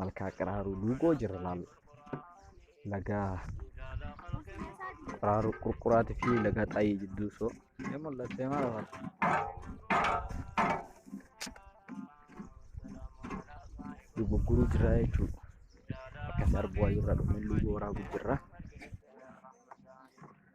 malkaa qiraaruu duugoo jirra laal lagaa qiraaruu qurquraati fi lagaa xaayii jidduu soo ni mul'attee maal laal dugugguruu jirra jechuudha akkas arbuu waayirra dhumee luugoo waraabuu jirra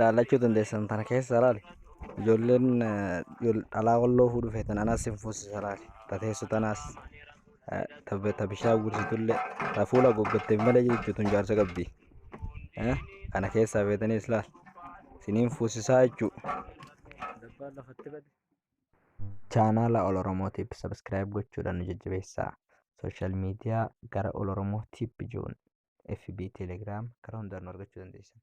Laallachuu dandeessan tana keessa laali. Ijoolleen dhalaa walloo fuudhuu feetan anas sin fuusisa laali. Ta teessu tanaas ta bishaan gursitullee ta fuula haguuggatteef malee jirtu tun jaarsa qabdi. Kana keessaa feetanis laali. Siniin fuusisaa jechuudha. Chaanaala Ol Oromoo Tiip Sabiskiraayib gochuudhaan nu jajjabeessaa. Sooshaal miidiyaa gara Ol Oromoo Tiip jiruun FB, Telegiraam karaa hundaan nu argachuu dandeessan.